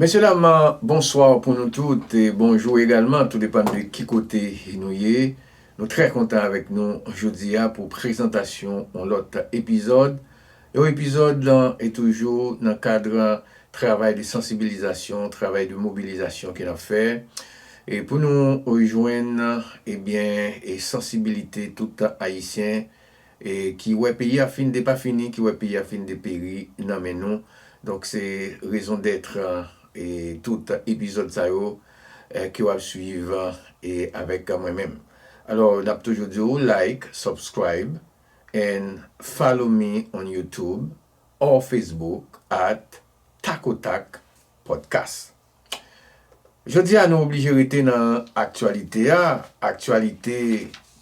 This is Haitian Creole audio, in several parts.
Mesye dam bonsoir pou nou tout e bonjou egalman tou depan de ki kote nou ye nou trè kontan avèk nou jodi a pou prezantasyon yon lòt epizòd yon epizòd lan e toujou nan kadr travay de sansibilizasyon travay de mobilizasyon ke nap fè e pou nou jwenn ebyen e sansibilite tout ayisyen e ki wè peyi a fin depafini, ki wè peyi a fin deperi nan men nou, donk se rezon dèt e tout epizòd sa yo ke wap swiv e avèk mwen menm. Alò nap toujou di ou like, subscribe and follow me on YouTube or Facebook at Takotak Podcast. Jodi a nou oblije rete nan aktyalite a, aktyalite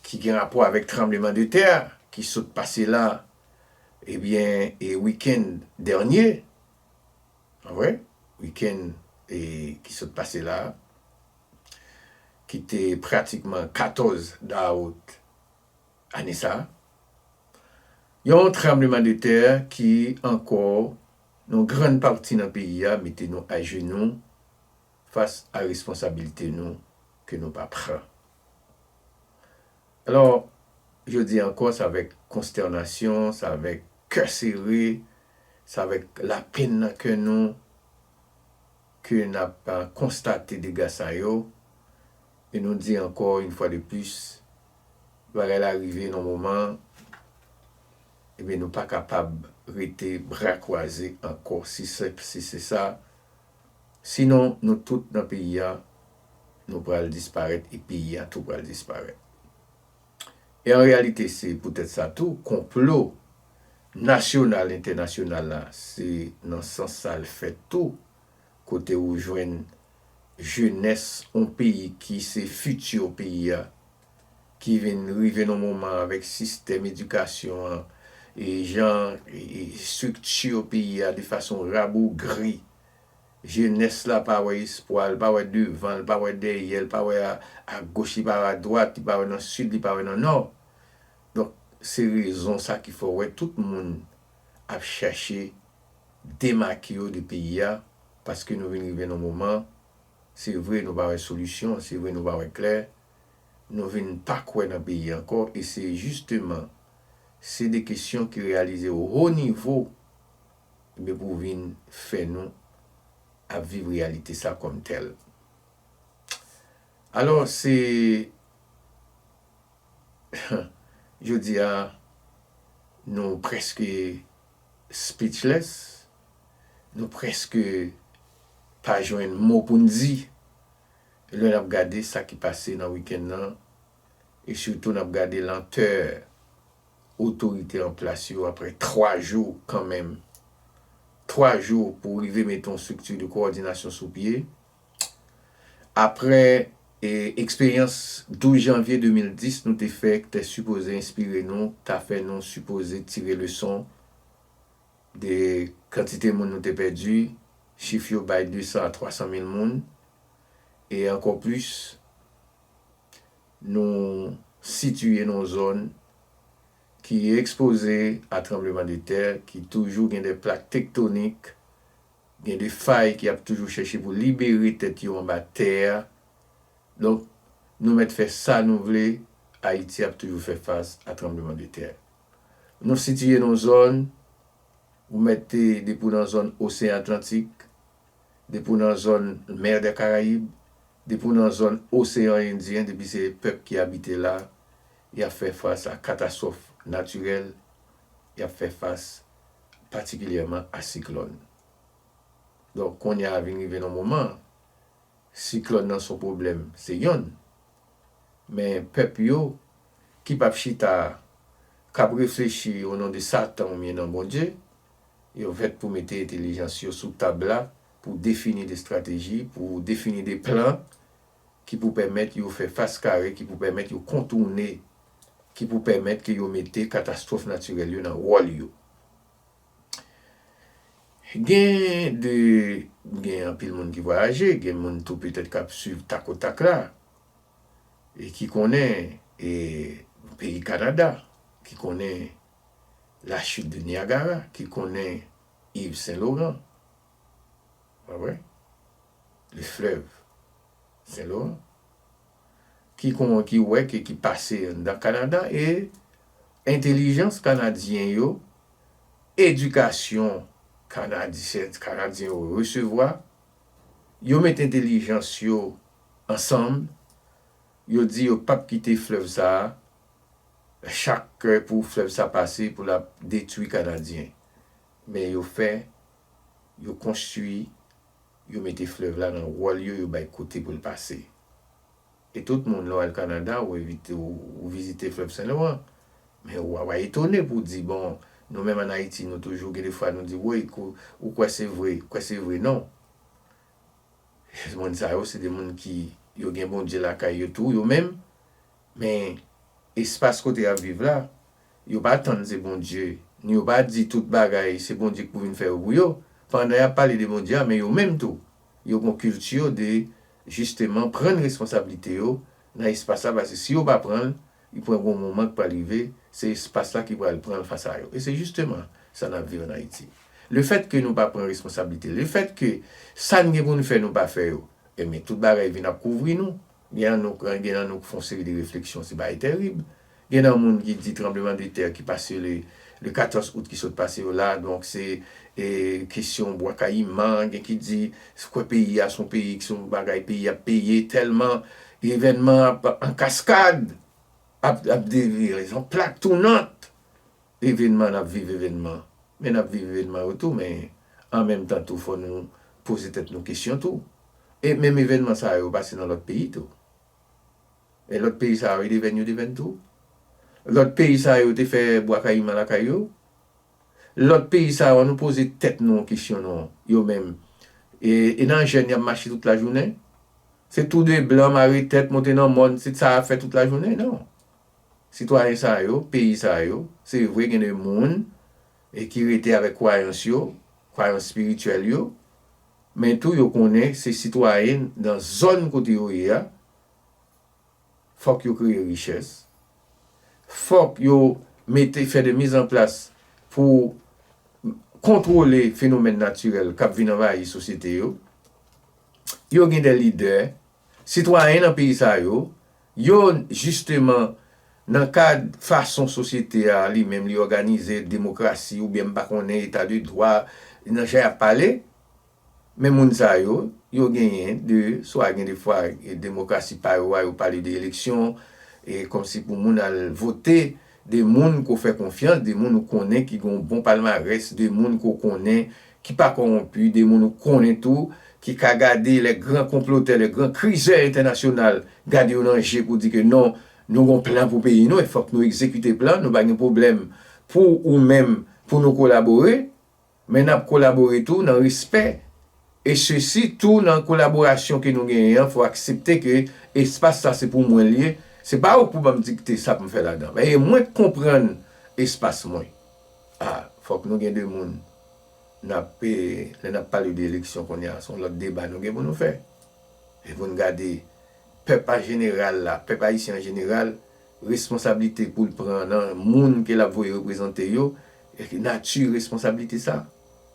ki gen rapò avèk tranbleman de tè a ki sot pase la ebyen e wikenn dènye pa vre? wikenn e ki sot pase la ki te pratikman 14 dawout ane sa yon tranbleman de tè ki ankò Yon grann pati nan peyi a mete nou ajenou fas a responsabilite nou ke nou pa pran. Alò, jodi ankò s avèk konstènasyon, s avèk kè sere, s avèk lapenn nan kè nou ke n ap konstate dega sa yo e nou di ankò, yon fwa de plis, Bagay la rive nan moman ebyen nou pa kapab rete bra kwaze ankò si senp si se sa sinon nou tout nan peyi a nou pral disparèt e peyi a tou pral disparèt e an reyalite se poutèt sa tou konplo nasyonal entènasyonal la se nan sans sa l fèt tou Kote ou jwenn jenès yon peyi ki se fiti peyi a, ki vin rive nan moman avèk sistèm edikasyon an, e jan estrikti peyi a de fason rabougri, jenès la pa wè espwa, li pa wè devan, li pa wè dèyè, li pa wè agoch, li pa wè adwat, li pa wè nan sid, li pa wè nan nò. Donk se rezon sa ki fè w wè tout moun. ap chache demake yo de peyi a paske nou vin rive nan yon moman se vre nou pa wè solisyon, se vre nou pa wè klè, nou vin pa kwè nan peyi ankò e se jisteman se de kesyon ki reyalize o ho nivo enben pou vin fè nou ap viv reyalite sa kòm tèl. Alò se. Jodi a nou preske speechless, nou preske pa jwenn mo pou n di lè n ap gade sa ki pase nan wikenn nan e sitou n ap gade lantè otorite an plas yo aprè 3 jou kanmenm, 3 jou pou rive mete yon strikti de kowòdinasyon sou pye. Aprè eksperyans 12 janvye 2010 nou te fè k te sipoze enspire nou, ta fè nou sipoze tire leson de kantite moun nou te pèdi, chif yo bay 200 a 300 mil moun, e ankò plis nou sitiye nan yon zòn ki ekspoze a tranbleman de tè, ki toujou gen de plak tektonik Gen de fay ki ap toujou chèche pou libere tèt yo anba tè a. Donk, nou mèt fè sa nou vle, Ayiti ap toujou fè fas a tranbleman de tè. Nou sitiye nan yon zòn, ou mèt te depi w nan zòn Oseyan Atlantik, depi w nan zòn Mer des Caraïbes, depi w nan zòn Oseyan Endyen, depi se pèp ki abite la, y ap fè fas a katastwòf natirèl, y ap fè fas patikilyèman a siklòn. Donk kounye a vin rive nan moman an, siklòn nan son pwoblèm se yonn, men pèp yo ki pap chita k ap reflechi onon de satan oubyen nan Bondye, yo fèt pou mete entelijans yo sou tab la pou defini de estrateji, pou defini de plan. ki pou pèmèt yo fè fas kare, ki pou pèmèt yo kontoune, ki pou pèmèt ke yo mete katastwòf natirèl yo nan wòl yo. Gen de, gen anpil moun ki vwayaje, gen moun tou petèt k ap swiv tak o tak la, e ki konnen e peyi Kanada, ki konnen la chute de Niagara, ki konnen Yves Saint Laurent, Pa vre? Le fleuve Saint Laurent ki kon ki wè ke ki pase anndan Kanada e entelijans Kanadyen yo, edikasyon Kanadisyen, Kanadyen yo resevwa, yo met entelijans yo ansanm, yo di yo pap kite fleuve sa a chak pou fleuve sa pase pou l ap detwi Kanadyen. Men yo fè yo konstwi, yo mete flèv la nan wòl yo, yo bay kote pou l pase. E tout moun, lè w al Kanada, ou evite, ou vizite flèv Sen Loran, men ou wa etone pou w di, bon, nou menm an Ayiti, nou toujou gen de fwa nou di, woy, ou kwè se vre, kwè se vre non. Moun sa yo, se de moun ki, yo gen Bondye lakay yo tou, yo menm. Men, espas kote y ap viv la, yo pa tann se Bondye, ni yo pa di tout bagay se Bondye ki pou vin fè yo pou yo. Pandan y ap pale de Bondye a, men yo menm tou, yo gon kilti yo de jisteman prann responsablite yo nan espas la, paske si yo pa pran l, li pran gon moman ki pral rive, se espas la ki pral pran l fas a yo. E se jisteman sa n ap viv ann Ayiti. Lefètke nou pa pran responsablite, lefètke sa n gen pou n fè nou pa fè yo, enben tout bagay vin ap kouvri nou. Gen an nou pran, gen an nou k fon seri de refleksyon se bagay terib. Gen nan moun ki di tranbleman de tè ki pase le le 14 out ki sot pase yo la donk se e kesyon bwa kayiman, gen ki di se kwè peyi a son peyi ki son bagay peyi ap peye tèlman evènman ap an kaskad ap ap de vire son plak tounant Evenman nap viv evenman men nap viv evenman yo tou men an menm tan tou fò nou poze tèt nou kesyon tou e menm evenman sa yo pase nan lòt peyi tou e lòt peyi sa yo devenn yo devenn tou lòt peyi sa yo te fè bwa kayiman lakay yo lòt peyi sa yo an nou poze tèt nou yon kesyon non yo menm e nan jèn yap mache tout lajounen se tou de blan mare tèt monte nan mòn se sa yap fè tout lajounen non Sitwayen sa yo, peyi sa yo, se vre gen de moun e ki rete avèk kwayans yo, kwayans espirityèl yo, men tou yo konnen se sitwayen nan zòn kote yo ye a, fòk yo kreye richès, fòk yo mete fè de mizanplas pou kontwole fenomèn natirèl k ap vin anvayi sosyete yo, yo gen de lidè, sitwayen nan peyi sa yo, Yo jisteman nan kad fason sosyete a li menm li òganize, demokrasi oubyen m pa konnen eta de dwa, nan jan y ap pale. Men moun sa yo, yo genyen de swa gen de fwa demokrasi pa yo a yo pale de eleksyon e kòmsi pou moun al vote de moun ke w fè konfyans, de moun ou konnen ki gen yon bon palmarès, de moun ke w konnen ki pa kowonpi, de moun ou konnen tou ki ka gade lè gran konplotè, lè gran krizè entènasyonal gade yo nan je pou di ke non, nou gen yon plan pou peyi nou e fòk nou egzekite plan an, nou pa gen pwoblèm pou ou menm pou nou kolabore. Men nap kolabore tou nan respè e sesi tou nan kolaborasyon ke nou genyen an fò aksepte ke espas sa se pou mwen li ye, se pa ou k pou banm dikte sa poum fè ladan, men e mwen k konprann espas mwen. A, fòk nou gen de moun nap e lè nap pale de eleksyon kounya son lòt deba nou gen pou nou fè e pou nou gade pèp a jeneral la, pèp ayisyen an jeneral responsablite poul pran nan moun ke lap voye reprezante yo. Eske nati responsablite sa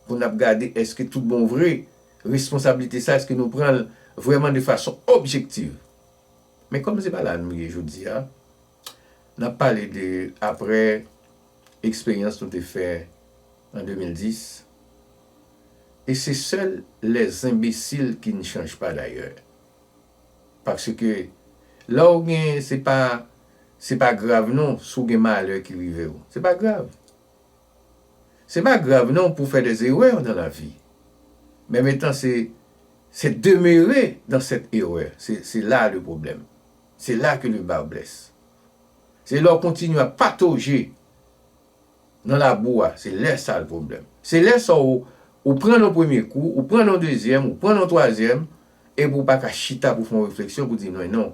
pou n ap gade eske tout bon vre responsablite sa eske nou pran l vrèman de fason objektiv. Men kòm se pa la nou ye jodi a, n ap pale de aprè eksperyans nou te fè an 2010 e se sèl lè zenbesil ki n chanj pa dayè. Paske lè w gen se pa se pa grav non si w gen malè ki rive w. Se pa grav. Se pa grav non pou w fè dè zerè nan lavi. Menm etan se se demere dan sèt erè. Se la le pwoblèm. Se la ke le ba blès. Se lè w kontinye ap patoje. Nan labou a, se lè sa l pwoblèm. Se lè sa w ou pran yon premye kou, ou pran yon dezyèm, ou pran yon twazyèm, epi ou pa ka chita pou w fè yon refleksyon pou w di mwen non,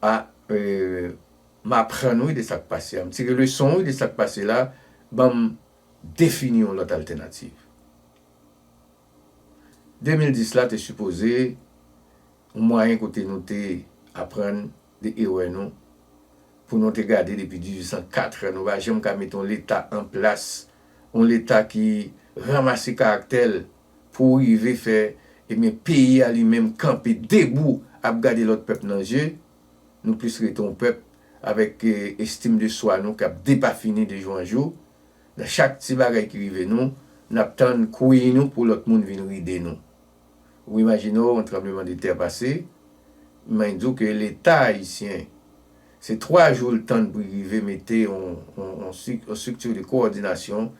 a m aprann wi de sa k pase a, m tire leson wi de sa k pase la, ban m defini yon lòt altènativ. 2010 la te sipoze yon mwayen kote nou te aprann Li erè nou pou nou te gade depi 1804 nou pa janm ka mete yon leta an plas, yon leta ki ranmase karaktè l pou rive fè ebyen peyi a li menm kanpe debou ap gade lòt pèp nan je, nou plis rete yon pèp avèk estim de swa nou kap depafini de jou an jou, nan chak ti bagay ki rive nou nap tann kwi nou pou lòt moun vin ride nou. Ou imajine w yon tranbleman de tè pase, mwen di w ke leta ayisyen se 3 jou l tann pou l rive mete yon structure de coordination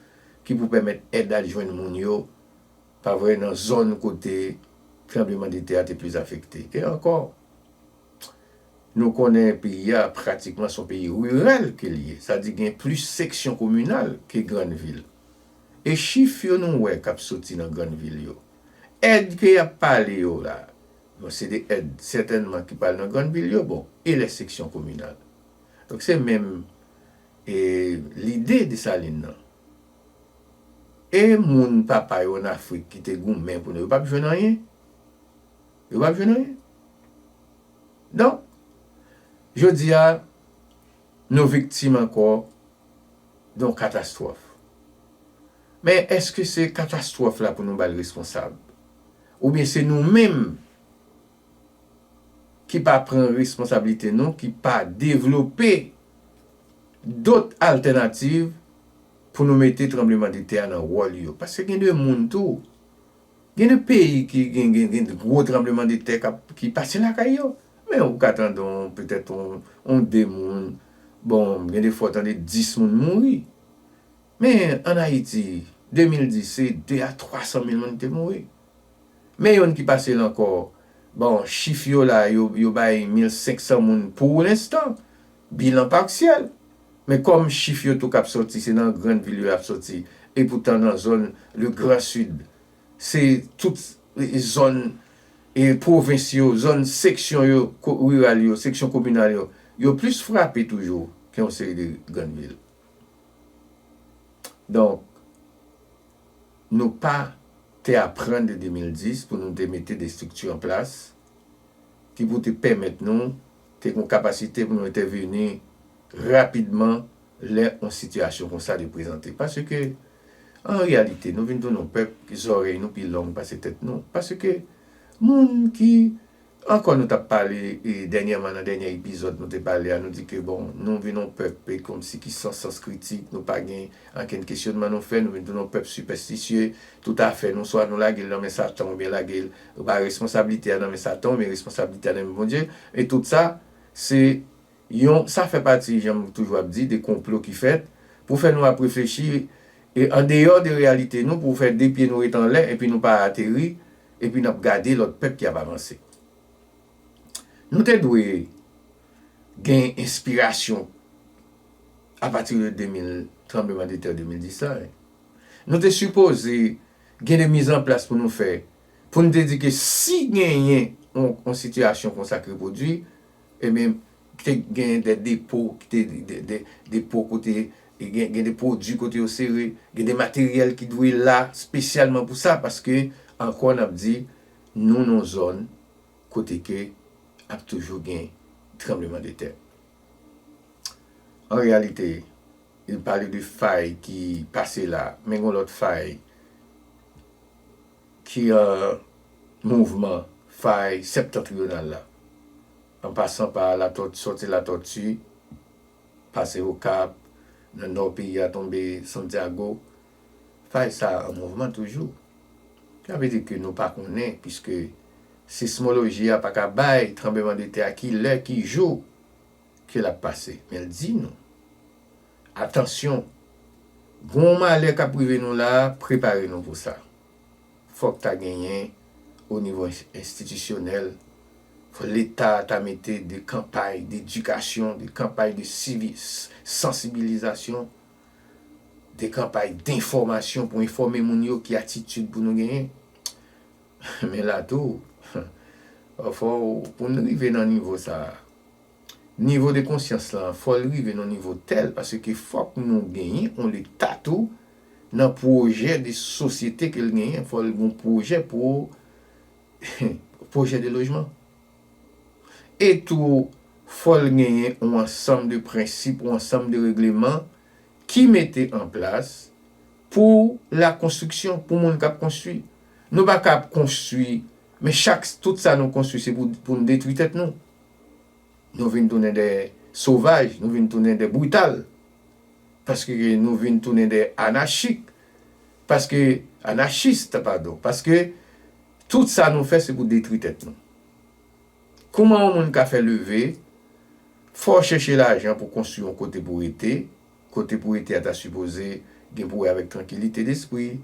ki pou pèmèt èd al jwenn moun yo, pa vre, nan zòn kote tranbleman de tè a te plis afekte. E ankò, nou konnen peyi a pratikman se yon peyi riral ke l ye, sa di gen plis seksyon kominal ke grann vil. E chif yo nou wè kap soti nan grann vil yo? Èd ke yap pale yo la, bon se de èd sètènman ki pral nan grann vil yo, bon e lè seksyon kominal? Donk se menm e lide Desalin nan. E moun papa yo an Afrik ki te goumen pou nou yo pap jwenn anyen? Yo pap jwenn anyen? Donk, jodi a nou viktim ankò. Yon katastwòf. Men èske se katastwòf la pou nou ba l responsab? Oubyen se nou menm ki pa pran responsablite nou, ki pa devlope dot altènativ pou nou mete tranbleman de tè a nan wòl yo? Paske gen de moun tou. Gen de peyi ki gen gen gwo tranbleman de tè kap ki pase lakay yo. Men ou ka tande on petèt on on 2 moun, bon gen de fwa ou tande 10 moun mouri. Men an Ayiti 2010 se 2 a 300 mil moun ki te mouri. Men youn ki pase l ankò, bon chif yo la yo yo bay 1500 moun pou lenstan, bilan parsyèl. Men kòm chif yo tou k ap sòti se nan grann vil yo y ap sòti epoutan nan zòn le gran sid se tout zòn pwovens yo, zòn seksyon yo riral yo, seksyon kominal yo yo plis frape toujou ke yon seri de grann vil. Donk nou pa te aprann de 2010 pou nou te mete de estrikti an plas ki pou te pèmèt nou te gen kapasite pou nou entèveni rapidman lè yon sitiyasyon konsa te prezante. Paske, an reyalite, nou vin tounen yon pèp ke zòrèy nou pi long pase tèt nou. Paske, moun ki, ankò nou t ap pale dènyèman nan dènyè epizòd nou te pale a, nou di ke bon, nou vin yon pèp e kòmsi ki san sans kritik, nou pa gen ankenn kesyonman nou fè, nou vin tounen yon pèp sipèstisye, tout afè nou swa nou lage l nan men satan oubyen lage l Yo bay responsablite a nan men Satan men responsablite a nan men Bondye e tout sa se yon sa fè pati jan m toujou ap di de konplo ki fèt pou fè nou ap reflechi e andeyò de reyalite nou pou fè de pye nou ret anlè epi nou pa ateri epi n ap gade lòt pèp ki ap avanse. Nou te dwe gen enspirasyon apati de 2000 tranbleman de tè 2010 la. Nou te sipoze Gen de miz an plas pou nou fè pou nou te di ke si genyen yon sitiyasyon konsa ki repwodui, ebyen ki te genyen de depo, ki te de depo kote gen de pwodui kote yo sere, gen de materyèl ki dwe la spesyalman pou sa paske ankò n ap di nou nan yon zòn kote ke ap toujou gen tranbleman de tè. An reyalite, Li pale de fay ki pase la, men gon lòt fay ki an mouvman, fay Septentrional la, an pasan pa Latòti, sòti Latòti, pase Okap, nan Nò peyi a tonbe Santiago. Fay sa a an mouvman toujou. Sa vle di ke nou pa konnen piske sismoloji a pa ka bay tranbleman de tè a ki lè, ki jou Ke l ap pase. Men l di nou. Atansyon! Gen yon malè k ap rive nou la a, prepare nou pou sa. Fòk ta genyen, onivo enstitisyonèl, fòk Leta ta mete de kanpay dedikasyon, de kanpay de sansibilizasyon, de kanpay denfòmasyon pou enfòme moun yo ki atitid pou nou genyen. Men la tou, pafwa w, pou n rive nan nivo sa a, nivo de konsyans lan, fò l rive nan yon nivo tèl, paske fòk nou genyen yon Leta tou, nan pwojè de sosyete ke l genyen, fò l gen yon pwojè pou, pwojè de lojman. E tou, fò l genyen yon ansanm de prensip, yon ansanm de regleman ki mete an plas pou la konstriksyon, pou moun k ap konstwi. Nou pa ka ap konstwi, men chak tout sa nou konstwi se pou pou nou detwi tèt nou. Nou vin tounen de sovaj, nou vin tounen de brital. Paske ke nou vin tounen de anachik, paske anachist padon, paske tout sa nou fè se pou detwi tèt nou. Kouman yon moun ka fè leve, fò w chèche lajan pou konstwi yon kote pou rete, kote pou rete a ta sipoze gen pou wè avèk trankilite despri,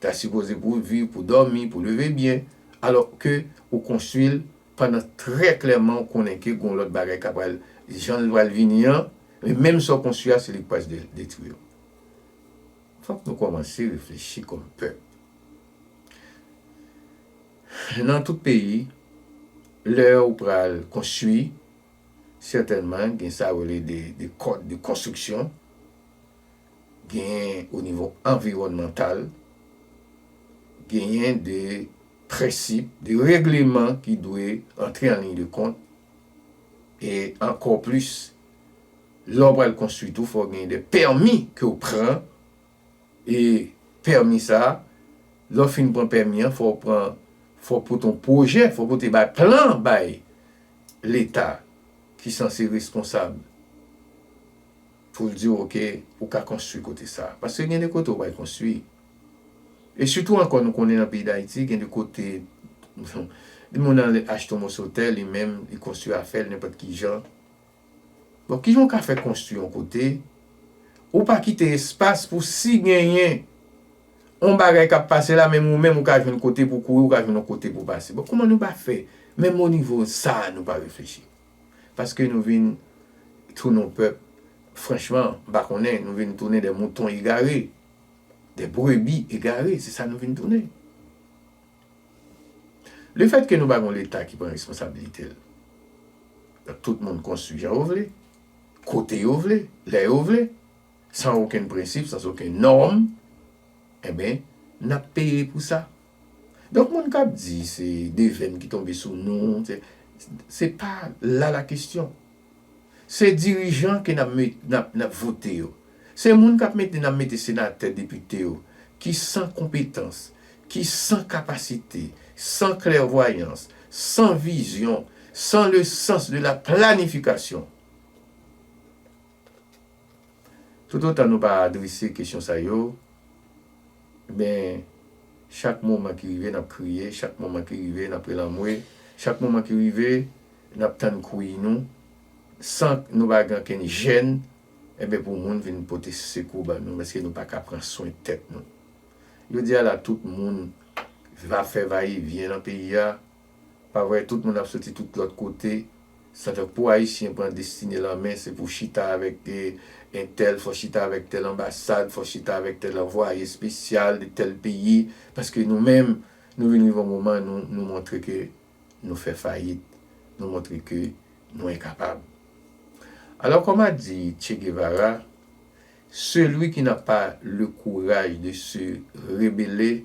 Ta sipoze pou w viv, pou w dòmi, pou w leve byen, alò ke ou konstwi l pandan trè klèman ou konnen ke gen yon lòt bagay ka pral jan l pral vini an, men menm sa w konstwi a se li k pral detwi yo. Fòk nou kòmanse reflechi kòm pèp. Nan tout peyi, lè ou pral konstwi, sètènman gen sa yo rele de kòd de konstriksyon, Genyen o nivo anviwònmantal, genyen de prensip, de regleman ki dwe antre an liy de kont e ankò plis lè w pral konstwi tou fò w genyen de pèmi ke w pran e pèmi sa a lè w fin pran pèmi an fò w pran fò w pote yon pwojè, fò w pote bay plan bay leta ki sanse reskonsab. Pou l di w ok, ou ka konstwi kote sa. Paske gen de kote ou bay konstwi. E sitou ankò nou konnen nan peyi Dayiti gen de kote yon moun ale achte yon moso tè li menm li konstwi afè l nenpòt ki jan. Bon ki jan ou ka fè konstwi yon kote ou pa kite espas pou si genyen yon bagay k ap pase la menm ou menm ou ka jwenn kote pou w kouri ou ka jwenn yon kote pou w pase. Bon kouman nou pa fè menm onivo sa a nou pa reflechi. Paske nou vin tounen yon pèp, franchman, m pa konnen, nou vin tounen des moutons égarés, des brebis égarées, se sa nou vin tounen. Le fait que nou pa gen yon leta ki pran responsabilite l, donk tout moun konstwi jan yo vle, kote yo vle, lè yo vle, sans aucun principe, sans aucun norme, enben, n ap peye pou sa. Donk moun kap di se devèn ki tonbe sou nou, se pa la la kestyon. Se dirijan ke nap vote yo. Se moun kap mete nan mete senatè, depite yo ki san konpetans, ki san kapasite, san klèvwayans, san vizyon, san le sans de la planifikasyon. Toutotan nou pa adrese kesyon sa yo, men chak moman ki rive n ap kriye, chak moman ki rive n ap rele anmwe, chak moman ki rive n ap tann kouyi nou, san nou pa gen okenn jèn enben pou moun vin pote sekou ban nou paske nou pa ka pran swen tèt nou. Jodi a la tout moun va fè va e vyen nan peyi a. Pa vre tout moun ap soti tout lot kote sa fè pou ayisyen pran destine l an men se pou chita avek entèl fò chita avek tèl anbasad fò chita avek tèl anvwaye espesyal de tèl peyi paske nou menm nou vin rive yon moman nou nou montre ke nou fè fayit nou montre ke nou enkapab alò kòm a di Che Guevara celui qui n'a pas le courage de se rebeller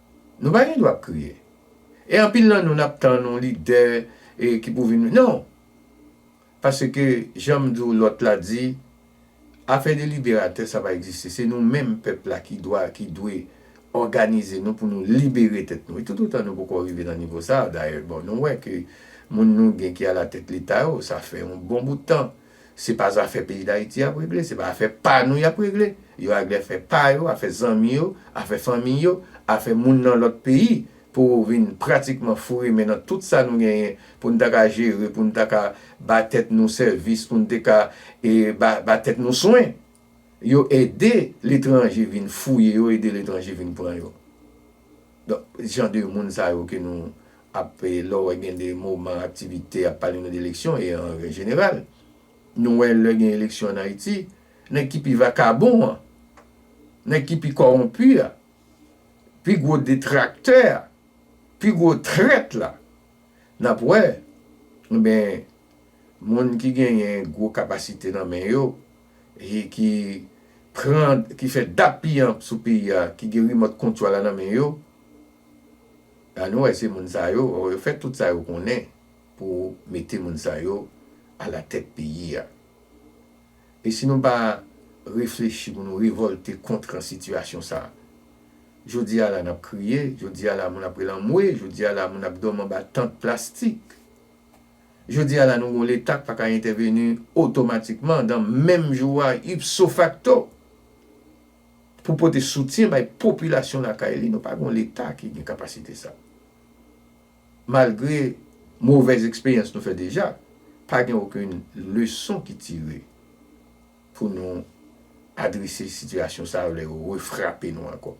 Nou pa gen dwa ap kriye. E anpil nan nou nap tann yon lidè ki pou vin non. Paske janm di w lòt la di afè de liberatè sa pa egziste se nou menm pèp la ki dwa ki dwe òganize nou pou nou libere tèt nou e tout otan nou poko rive nan nivo sa dayè bon nou wè ke moun nou gen ki alatèt leta yo sa fè yon bon bout tan Se pa zafè peyi dayiti yap regle, se pa afè pa nou yap regle. Yo agle afè pa yo, afè zanmi yo, afè fanmiy yo, afè moun nan lòt peyi pou vin pratikman foure men nan tout sa nou genyen pou n ta ka jere, pou n ta ka ba tèt nou sèvis, pou n te ka ba tèt nou swen. Yo ede letranje vin fouye yo, ede letranje vin pran yo. Donk jan de moun sa yo ke nou. ap lè w wè gen de moman aktivite y ap pale nou de eleksyon e an jeneral nou wè lè gen eleksyon ann Ayiti nèg ki pi vakabon an nèg ki pi kòwonpi a pi gwo detraktè a pi gwo trèt la n ap wè enben moun ki genyen gwo kapasite nan men yo e ki pran ki fè dappiyanp sou peyi a ki gen rimòt kontwòl la nan men yo. A nou wè se moun sa yo, or yo fè tout sa yo konnen pou mete moun sa yo a la tèt peyi a. E si nou pa reflechi pou nou revolte kontr sitiyasyon sa. Jodi a la nap kriye, jodi a la moun ap rele anmwe, jodi a la moun ap dòmi anba tant plastik. Jodi a la nou gon leta k pa ka entèveni otomatikman dan menm jou a ipso facto. Pou pote soutyen bay popilasyon lakay li nou pa gen yon leta ki gen kapasite sa. Malgre movèz eksperyans nou fè deja, pa gen okenn leson ki tire pou nou adrese sitiyasyon sa lè yo refrape nou ankò.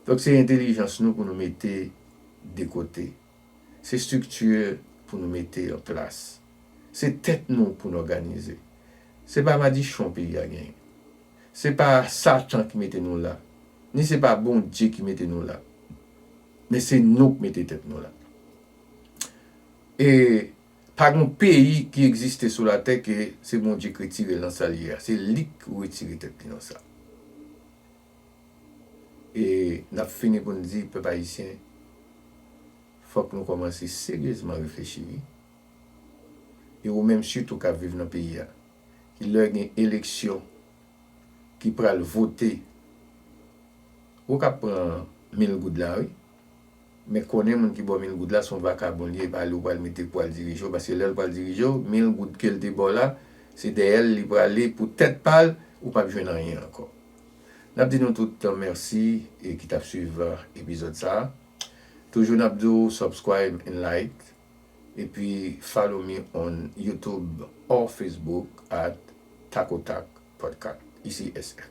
Donk se entelijans nou pou nou mete de kote. Se strikti pou nou mete an plas. Se tèt nou pou n òganize. Se pa madichon peyi a genyen. Se pa satan ki mete nou la, ni se pa Bondye ki mete nou la. Men se nou k mete tèt nou la. E pa gon peyi ki egziste sou latè ke se Bondye k retire l nan sa l ye a. Se li k retire tèt li nan sa. E nap fini pou n di pèp ayisyen fòk nou kòmanse seryezman reflechi wi. E ou menm sitou kap viv nan peyi a ki lè gen eleksyon ki pral vote ou kap pran mil goud la wi. Men konnen moun ki baw mil goud la son vakabon li ye e pa li ou pral mete pou al dirije w paske lèl pral dirije w mil goud kel te baw la se dèyè l li prale pou tèt pal ou pap jwenn anyen ankò. N ap di nou tout mèsi ki t ap swiv epizòd sa a. Toujou n ap di w subscribe and like epi follow me on YouTube or Facebook at Takotak Podcast. Ici SF.